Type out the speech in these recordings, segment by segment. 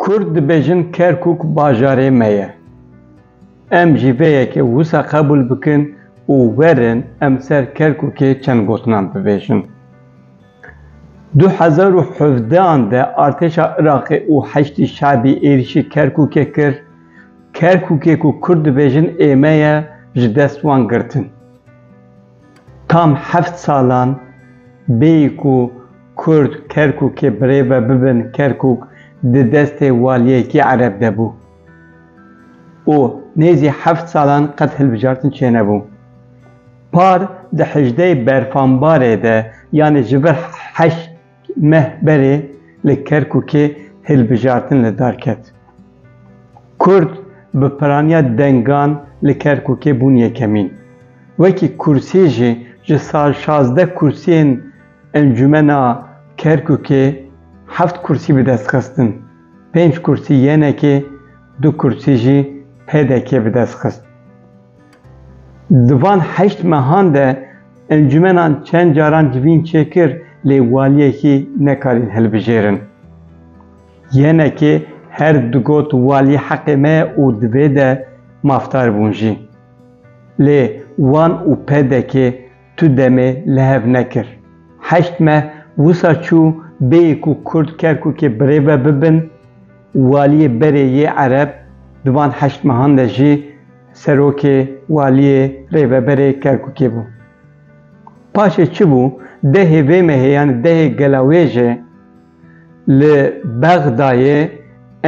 Kurd dibêjin Kerkûk bajarê me ye. Em jî vê yekê wisa qebûl bikin û werin em ser Kerkûkê çend gotinan bibêjin. Du hezar û hevdean de artêşa Iraqê û Heşdî Şebî êrîşî Kerkûkê kir, Kerkûkê ku Kurd dibêjin ê me ye ji dest wan girtin. Tam heft salan bêyî ku Kurd Kerkûkê birêve bibin Kerkûk di destê waliyekî ereb de bû û nêzî heft salan qet hilbijartin çênebû. Par di hejdeyê berfanbarê de yanî ji vir heşt Meh berê li Kerkûkê hilbijartin li dar ket. Kurd bi piraniya dengan li Kerkûkê bûn yekemîn. Wekî kursî jî ji sal şazdeh kursiyên Encûmena Kerkûkê heft kursî bi dest xistin. Pênc kursî YNK'ê, du kursî jî PDK'ê bi dest xist. Di van heşt mehan de encûmenan çend caran civîn çêkir lê waliyekî nekarîn hilbijêrin. Yenekê her digot walî heqê me ye û divê de mafdar bûn jî. Lê wan û PDK'ê tu demê li hev nekir. Heşt meh wisa çû bêyê ku Kurd Kerkûkê birêve bibin, waliyê berê yê Ereb di van heşt mehan de jî serokê, waliyê, rêveberê Kerkûkê bû. Paşê çi bû? Dehê vê mehê yanî dehê gela wê jê. Li Bexdayê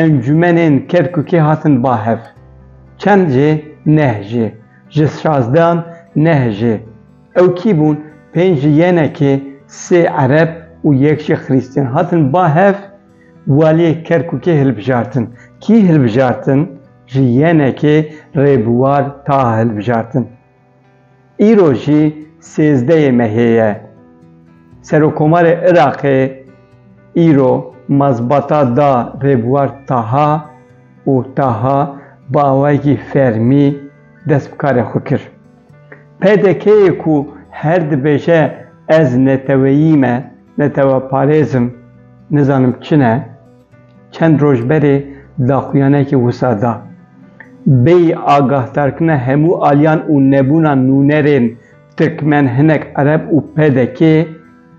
encûmenên Kerkûkê hatin ba hev. Çend jê? Neh jê. Ji şazdehan neh jê. Ew kî bûn? Pênc ji yenekê, sê ereb û yek jî xirîstîyan hatin ba hev waliyê Kerkûkê hilbijartin. Kî hilbijartin? Ji yenekê Rêbûar Taha hilbijartin. Îro jî sêzdeyê mehê ye. Serokomarê Iraqê îro mazbata da Rêbwar Taha û Taha bi awayekî fermî dest bi karê xwe kir. PDK'yê ku her dibêje ez neteweyî me, neteweparêz im, nizanim çi ne, Çend roj berê daxuyanekî wisa da. Bêyî agahdarkirina hemû aliyan û nebûna nûnerên tirkmen, hinek ereb û pdk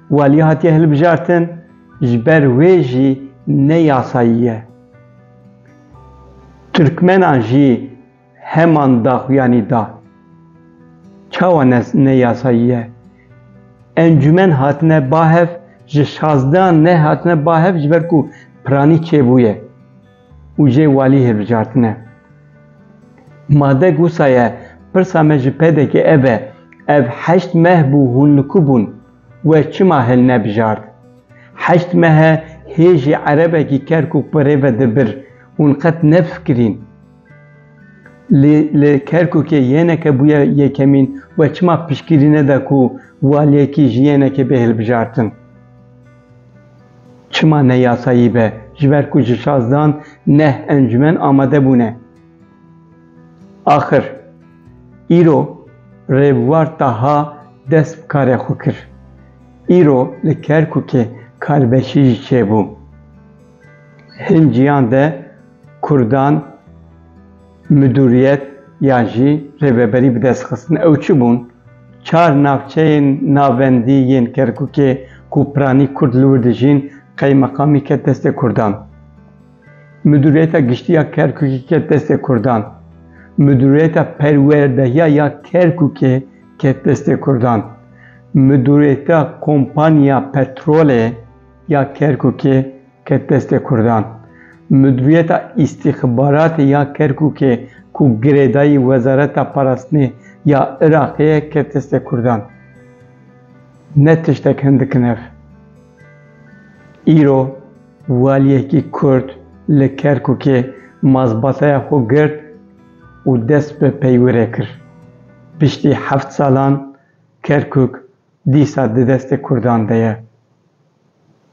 waliya hatiye hilbijartin, ji ber wê jî ne yasayî ye. Tirkmenan jî. Heman daxuyanî da. Çawa ne neyasayî ye? Encûmen hatine ba hev ji şazdehan nehatine ba hev ji ber ku piranî çêbûye û jê walî hilbijartine. Made gusa ye pirsa me ji PDK'ê ev e, ev heşt meh bû hûn li ku bûn? We çima hilnebijart? Heşt mehe hêjî erebekî kerkûk bi rê ve di bir, hûn qet nefikirîn. Lê li Kerkûkê yêneke bûye yekemîn we çima piştgirî neda ku waliyekî ji yênekê bê hilbijartin? Çima ne yasayî be? Ji ber ku ji şazdan neh encûmen amade bûne. Axir îro Rêbwar Taha dest bi karê xwe kir. Îro li Kerkûkê karbeşî jî çêbû. Hin ciyan de kurdan midûriyet yan jî rêveberî bi dest xistin. Ew çi bûn? Çar navçeyên navendî yên Kerkûkê ku piranî kurd li wir dijîn qeymeqamî ket destê kurdan. Midûriyeta giştî ya Kerkûkê ket destê kurdan. Midûriyeta perwerdehiya ya Kerkûkê ket destê kurdan. Midûriyeta kompanya petrolê. ya Kerkûkê ket destê Kurdan. Mudwiyeta Îstîxbaratê ya Kerkûkê ku girêdayî Wezareta Parastinê ya Iraqê ye ket destê Kurdan. Ne tiştek hindik in ev. Îro waliyekî Kurd li Kerkûkê mazbataya xwe girt û dest bi peywirê kir. Piştî heft salan, Kerkûk dîsa di destê Kurdan de ye.